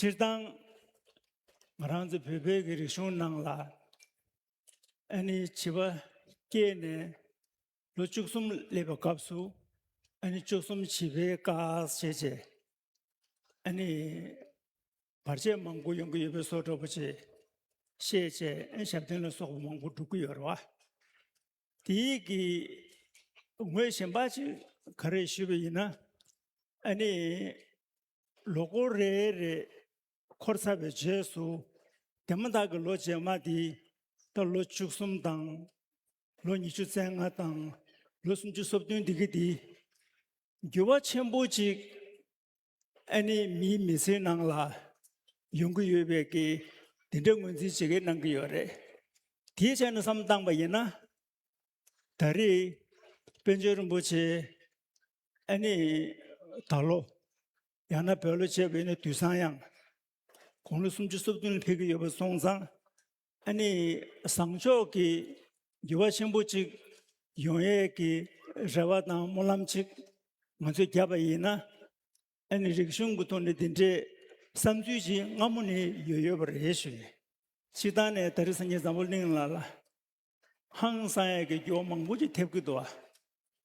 སྤྱིར་བཏང་ང་རང་ཚོ་བོད་པའི་རིག་གཞུང་ནང་ལ་ཨ་ནེ་བྱིས་པ་སྐྱེས་ནས་ལོ་བཅུ་གསུམ་སླེབས་པའི་སྐབས་སུ་ཨ་ནེ་བཅུ་གསུམ་བྱིས་པའི་བཀའ་བྱས་རྗེས་ཨ་ནེ་བར་ཆད་མང་པོ་ཡོང་གི་ཡོད་པའི་བཟོ་བཀྲོལ་པོ་ཆེ་ཤེས་བྱའི་ཞབས་བརྟན་ལ་སོགས་པ་མང་པོ་སྒྲུབ་ཀྱི་ཡོད་རེད་བ། དེ་གི་ངོས་གཞན་པ་ཅིག་ག་རེ་ཞུས་པ་ཡིན་ན། ཨ་ནི་ལོ་འཁོར་རེ་རེ་འཁོར་ཚར་བའི་རྗེས་སུ་དེ་མ་ཐག་གི་ལོ་རྗེས་མ་དེ་ད་ལོ་བཅུ་གསུམ་དང། ལོ་ཉི་ཤུ་རྩེ་ལྔ་དང་ལོ་སུམ་ཅུ་སོ་བདུན་འདི་གི་དེ་འགྱུར་བ་ཆེན་པོ་ཅིག་ཨ་ནེ་མིའི་མི་ཚེའི་ནང་ལ་ཡོང་གི་ཡོད་པའི་གི་དེ་འདྲའི་ངོས་འཛིན་བྱེད་ཀི་གནང་གི་ཡོད་རེད། དེའི་ཆ་ནས་བསམ་བཏང་པ་ཡིན་ན། ད་རེས་པན་ཆེན་རིན་པོ་ཆེ་ཨ་ནེ་ད་ལོ་ཡང་ན་བོད་ལོ་བྱས་པའི་ནི་དུས་སང་ཡང། དགུང་ལོ་སུམ་ཅུ་སོ་བདུན་ལ་ཕེབས་ཀི་ཡོད་པ་སོང་ཙང་ཨ་ནི་བཟང་མཆོག་གི་འགྱུར་བ་ཆེན་པོ་གཅིག་ཡོང་ཡས་ཀྱི་རེ་བ་དང་སྨོན་ལམ་གཅིག་ང་ཚོས་བརྒྱབ་པ་ཡིན་ན། ཨ་ནི་རིག་གཞུང་གི་ཐོག་ནས་འདི་འདྲའི་བསམ་ཚུལ་ཅིག་སྔ་མོ་ནས་ཡོད་ཡོད་པ་རེད་ཞུ་ཡིན། ཕྱི་ཐང་ནས་ད་རི་སངས་རྒྱས་འཛམ་བུ་གླིང་ལ་ལ་ཧང་སངས་ཡས་ཀྱི་འགྱུར་བ་མང་པོ་ཅིག་ཐེབས་ཀྱི་འདུག་ཨ།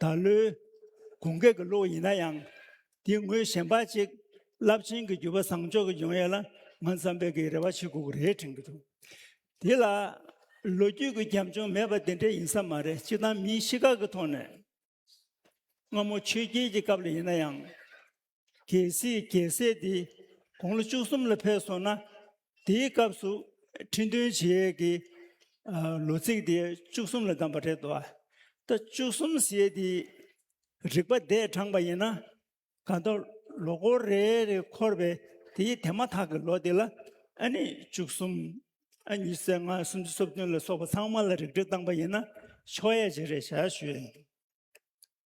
ད་ལོའི་གུང་སྐེག་གི་ལོ་ཡིན་ན་ཡང་དེ་སྔོན་གཞན་པ་གཅིག་རླབས་ཆེན་གྱི་བརྒྱུད་པ་བཟང་ཕྱོགས་ཀྱི་འབྱུང་ཡས་ལ་ང་འཛམ་བུས་ཀྱི་རེ་བ་བྱེད་དགོས་ཀྱི་རེད་དྲན་གྱི་འདུག་དེ་ལ་ལོ་རྒྱུས་ཀྱི་རྒྱབ་ལྗོངས་མེད་པ་དེ་འདྲས་ཡིན་ས་མ་རེད་སྤྱིར་བཏང་མིའི་གཤིས་ཀ་གི་ཐོག་ནས་སྔ་མོ་ཆོས་རྒྱལ་གྱི་སྐབས་ལ་ཡིན་ན་ཡང། གལ་སྲིད་རྒྱལ་སྲས་དེ་དགུང་ལོ་བཅུ་གསུམ་ལ་ཕེབས་སོང་ན་དེའི་སྐབས་སུ་ཁྲི་འདོན་བྱེད་ཡས་ཀྱི་ལོ་ཚིགས་དེ་བཅུ་གསུམ་ལ་བདམས་པ་རེད་དོ། ད་བཅུ་གསུམ་ཞེས་དེ་རིག་པ་འདས་དྲངས་པ་ཡིན་ན་ག་མདོ་ལོ་འཁོར་རེ་རེ་འཁོར་བའི་དེའི་དེ་མ་ཐག་གི་ལོ་དེ་ལ་ཨ་ནི་བཅུ་གསུམ་ཨ་ཉི་ཟེར་ལྔ་སུམ་ཅུ་སོ་བདུན་ལ་སོགས་པ་ཚང་མ་ལ་རིགས་འགྲེ་བཏང་པ་ཡིན་ན་ཆོག་ཡས་ཇི་རེ་བྱ་ཞུས།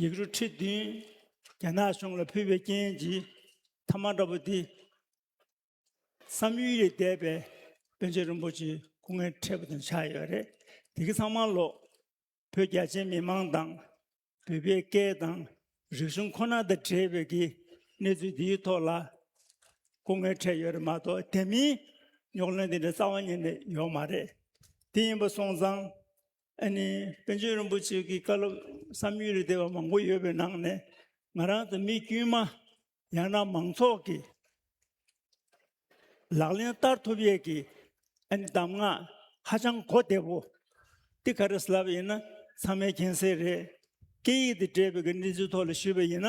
ཡིག་རུ་ཁྲི་བདུན་རྒྱ་ནག་གཞུང་ལ་ཕུལ་བའི་རྐྱེན་གྱིས་ཐ་མ་འདྲ་པོ་འདི། བསམ་ཡུལ་ལས་འདས་པའི་དཔོན་ཆེན་རིན་པོ་ཆེའི་སྐུ་ངལ་འཕྲད་པ་དང་ཆགས་ཡོད་པ་རེད། དེ་གི་ཚང་མ་ལོག་བོད་རྒྱ་ཆེའི་མི་མང་དང་བོད་པའི་སྐད་དང་རིག་གཞུང་ཁོ་ན་དང་བྲལ་བའི་གི་གནས་ཚུལ་འདིའི་ཐོག་ལ་སྐུ་ངལ་འཕྲད་ཡོད་རེད་མ་གཏོགས་དེ་མིན་རྙོག་གླེང་འདི་འདྲ་རྩ་བ་ཉིད་ནས་ཡོད་མ་རེད། དེ་ཡིན་པ་སོང་ཙང་ཨ་ནི་པན་ཆེན་རིན་པོ་ཆེ་གི་བཀའ་སློབ་བསམ་ཡུལ་རེ་བདེ་བ་མང་པོ་ཡོད་པའི་ནང་ནས་ང་རང་དང་མི་དཀྱུས་མ་ཡང་ན་མང་ཚོགས་ཀྱི་ལག་ལེན་བསྟར་ཐུབ་ཡས་ཀྱི་ཨ་ནི་གདམས་ངག་ཧ་ཅང་གོ་བདེ་བོ་འདི་ག་རེ་ལབ་ཡིན་ན་ཚང་མའི་མཁྱེན་གསལ་རེད་སྐད་ཡིག་དེ་འདྲེས་པའི་གནས་ཚུལ་ཐོག་ལ་ཞུས་པ་ཡིན་ན་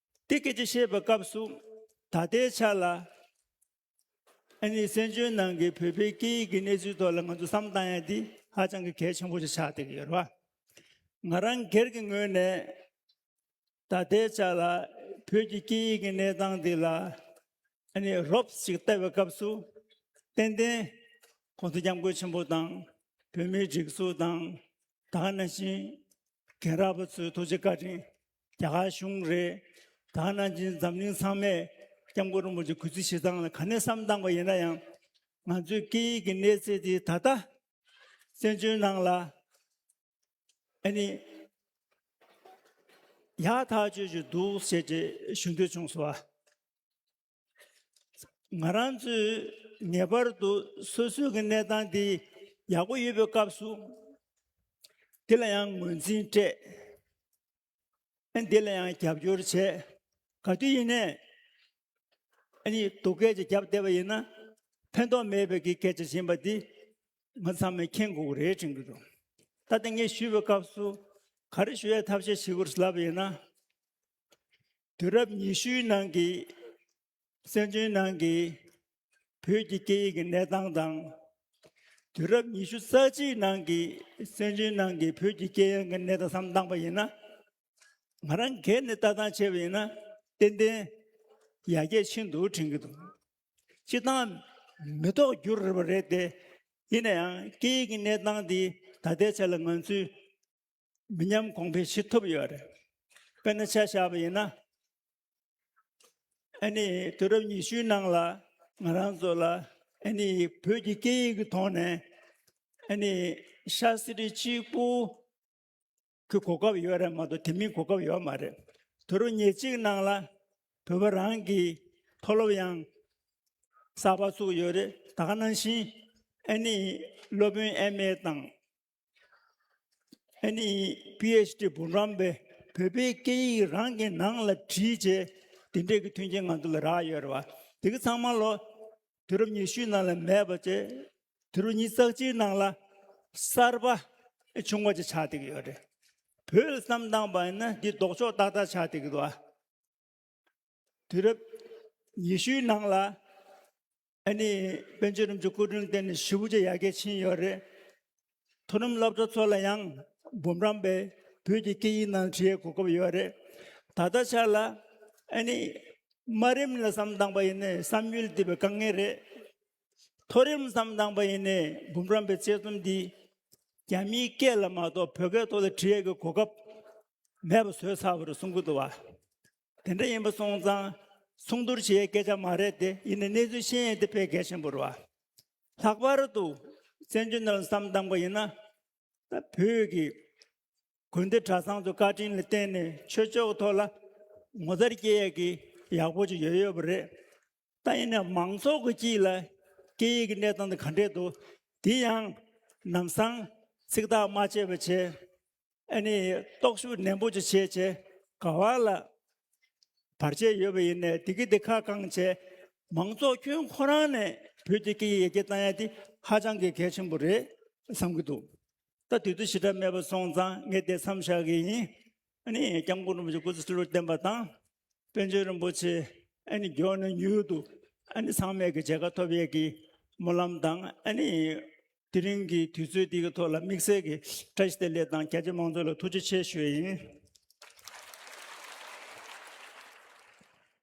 དེ་སྐད་ཅེས་བཤད་པའི་སྐབས་སུ་ད་ལྟའི་ཆ་ལ་ཨ་ནི་བཙན་བྱོལ་ནང་གི་བོད་པའི་སྐད་ཡིག་གི་གནས་ཚུལ་ཐོག་ལ་ང་ཚོ་བསམ་བཏང་ཡ་འདི་ཧ་ཅང་གི་གལ་ཆེན་པོ་ཞིག་ཆགས་བསྡད་ཀྱི་ཡོད་རེད་བ། ང་རང་སྒེར་གྱི་ངོས་ནས་ད་ལྟའི་ཆ་ལ་བོད་ཀྱི་སྐད་ཡིག་གི་གནས་སྟངས་འདི་ལ་ཨ་ནི་རོབ་ཅིག་བལྟ་བའི་སྐབས་སུ་ཏན་ཏན་ཁོང་ཚོ་སྐྱབས་མགོན་ཆེན་པོ་དང་བོད་མིའི་སྒྲིག་འཛུགས་དང་དག་ན་བཞིན་རྒན་རབས་པ་ཚོའི་ཐུགས་རྗེ་བཀའ་དྲིན་རྒྱ་གར་གཞུང་རེད། ད་ནང་བཞིན་འཛམ་གླིང་ཚང་མས ྋསྐྱབས་མགོན་རིན་པོ་ཆེ་གུས་བརྩི་བྱེད་སྟངས་ལ་ག་ནས་བསམ་བཏང་པ་ཡིན་ན་ཡང། ང་ཚོའི་སྐད་ཡིག་གི་གནས་ཚད་དེ་ད་ལྟ་བཙན་བྱོལ་ནང་ལ་ཨ་ནི་ཡག་ཐག་ཆོད་ཅིག་འདུག་ཞེས་ཞུ་འདོད་བྱུང་སོང། ང་རང་ཚོས་ངེས་པར་དུ་སོ་སོའི་གནས་སྟངས་དེ་ཡག་པོ་ཡོད་པའི་སྐབས་སུ་དེ་ལ་ཡང་ངོས་འཛིན་སྤྲད་ཨ་འདི་ལ་ཡང་རྒྱབ་སྐྱོར་བྱས་ག་དུས་ཡིན་ནས་ཨ་ནི་སྡུག་སྐད་ཅིག་བརྒྱབ་བསྡད་པ་ཡིན་ན་ཕན་ཐོག་མེད་པའི་གི་སྐད་ཆ་བྱིན་པ་འདི་ང་ཚང་མས་མཁྱེན་དགོས་པ་རེད་དྲན་གི་འདུག་ད་ལྟ་ངས་ཞུས་པའི་སྐབས་སུ་ག་རེ་ཞུ་ཡ་ཐབས་ཤེས་བྱེད་དགོས་རེད་ལབ་པ་ཡིན་ན་དུས་རབས་ཉི་ཤུའི་ནང་གི་སྲན་ཆུང་ནང་གི་བོད་ཀྱི་སྐད་ཡིག་གི་གནས་སྟངས་དང། དུས་རབས་ཉི་ཤུ་རྩ་གཅིག་ནང་གི་སྲན་ཆུང་ནང་གི་བོད་ཀྱི་སྐད་ཡིག་གི་གནས་སྟངས་སམ་བཏང་པ་ཡིན་ན། ང་རང་སྒེར་ནས་ལྟ་སྟངས་བྱས་པ་ཡིན་ན་ཏན་ཏན་ཡར་རྒྱས་ཕྱིན་འདུག་དྲན་གྱི་འདུག་སྤྱིར་བཏང་མི་ཐོག་འགྱུར་རེ་བ་རེད་དེ། ཡིན་ན་ཡང་སྐད་ཡིག་གི་གནས་སྟངས་འདི་ད་ལྟའི་ཆ་ལ་ང་ཚོས་མི་ཉམས་གོང་འཕེལ་བྱེད་ཐུབ་ཡོད་རེད། དཔེར་ན་ཆ་བཞག་པ་ཡིན་ན། ཨ་ནི་དུས་རབས་ཉི་ཤུའི་ནང་ལ་ང་རང་ཚོ་ལ་ཨ་ནི་བོད་ཀྱི་སྐད་ཡིག་གི་ཐོག་ནས་ཨ་ནི་ཤ་སི་རི་གཅིག་པུ་གི་གོ་སྐབས་ཡོད་རེད་མ་གཏོགས་དེ་མིན་གོ་སྐབས་ཡོད་མ་རེད། དུས་རབས་ཉེར་གཅིག་ནང་ལ་བོད་པ་རང་གི་མཐོ་སློབ་ཡང་གསར་པ་བཙུགས་ཡོད་རེད། ད་ག་ནང་བཞིན་ཨ་ནི་སློབ་དཔོན་ཨེམ་ཨེ་དང། ཨ་ནི PHD འབུམ་རམས་པས་བོད་པའི་སྐད་ཡིག་རང་གི་ནང་ལ་བྲིས་རྗེས་དེ་འབྲེལ་གྱི་མཐུན་རྐྱེན་ང་ཚོ་ལ་རག་ཡོད་རེད་བ། དེ་གི་ཚང་མ་ལོ་དུས་རབས་ཉི་ཤུའི་ནང་ལ་མེད་པ་བཅས་དུས་རབས་ཉིས་བརྩེགས་སྤྱིའི་ནང་ལ་གསར་པ་བྱུང་བ་བཅས་ཆགས་བསྡད་ཀྱི་ཡོད་རེད། བོད་ལ་བསམ་བཏང་བ་ཡིན་ན་འདི་ལྡོག་ཕྱོགས་ཏག་ཏག་ཆགས་བསྡད་ཀྱི་འདུག་བ། དུས་རབས་ཉི་ཤུའི་ནང་ལ་ཨ་ནི་བན་ཆོས་རིམ་གྱི་སྐུ་དྲུང་བསྟེན་ནས་ཞི་བུ་ཆེ་ཡར་རྒྱས་ཕྱིན་ཡོད་རེད། མཐོ་རིམ་སློབ་གྲྭ་ཚོ་ལ་ཡང་འབུམ་རམས་པས་བོད་ཀྱི་སྐད་ཡིག་ནང་བྲིས་ཡས་གོ་སྐབས་ཡོད་རེད། ད་ལྟ་ཆར་ལ་ཨ་ནི་དམའ་རིམ་ལ་བསམ་བཏང་པ་ཡིན་ནས་བསམ་ཡུལ་འདི་བས་དཀའ་ངལ་རེད། མཐོ་རིམ་ཙམ་བཏང་པ་ཡིན་ནས་འབུམ་རམས་པའི་དཔྱད་རྩོམ་འདི་རྒྱ་མིའི་སྐད་ལ་མ་གཏོགས་བོད་སྐད་ཐོག་ལ་བྲི་ཡས་ཀྱི་གོ་སྐབས་མེད་པ་བཟོས་ཚར་བ་རེད་གསུང་གི་འདུག་བ། དེ་འདྲ་ཡིན་པ་སོང་ཙང་མཚུངས་བསྡུར་བྱེད་ཡས་སྐད་ཆ་མ་རེད་དེ་ཡིན་ནས་གནས་ཚུལ་ཤེས་ཡས་དེ་ཕལ་གལ་ཆེན་པོ་རེད་བ། ལྷག་པར་དུ་བཙན་བྱོལ་ནང་ལ་བསམ་བཏང་པ་ཡིན་ན་ད་བོད་ཀྱི་དགོན་སྡེ་གྲྭ་ཚང་དུ་བཀའ་དྲིན་ལ་བརྟེན་ནས་ཆོས་ཕྱོགས་ཐོག་ལ་ངོ་མཚར་སྐྱེ་ཡས་ཀྱི་ཡག་པོ་ཅིག་ཡོད་ཡོད་པ་རེད། ད་ཡིན་ན་མང་ཚོགས་ཀྱི་སྐྱིད་ལ་སྐད་ཡིག་གི་གནས་སྟངས་དེ་ག་འདྲས་འདུག་དེ་ཡང་ནམ་སང་ཚིག་ཐག་མ་བཅད་པར་བྱས་ཨ་ནི་རྟོག་ཞིབ་ནན་པོ་ཅིག་བྱས་རྗེས་ག་བ་ལ་བར་ཆད་ཡོད་པ་ཡིན་ནས་དེ་གི་དེ་ཁ་བསྐང་བྱས་མང་ཚོགས་ཁྱོད་ཁོ་རང་ནས་བོད་ཀྱི་སྐད་ཡིག་ཡར་རྒྱས་བཏང་ཡ་དེ་ཧ་ཅང་གི་གལ་ཆེན་པོ་རེད་བསམ་གི་འདུག་ད་དུས་ཚོད་ཞེ་དྲག་མེད་པ་སོང་ཙང་ངས་དེ་མཚམས་བཞག་གི་ཡིན་ཨ་ནི་སྐྱབས་མགོན་རིན་པོ་ཆེ་སྐུ་ཚེ་ཧྲིལ་བོར་བརྟན་པ་དང། པཎ་ཆེན་རིན་པོ་ཆེ་ཨ་ནི་མགྱོགས་ནས་མྱུར་དུ་ཨ་ནི་ཚང་མས་ཀྱི་མཇལ་ཁ་ཐོབ་ཡས་ཀྱི་སྨོན་ལམ་དང་ཨ་ནི་དེ་རིང་གི་དུས་ཚོད་འདི་གི་ཐོག་ལ་དམིགས་བསལ་གྱི་བཀྲ་ཤིས་བདེ་ལེགས་དང་རྒྱ་ཆེ་མང་ཚོགས་ལ་ཐུགས་རྗེ་ཆེ་ཞུ་ཡས་ཡིན།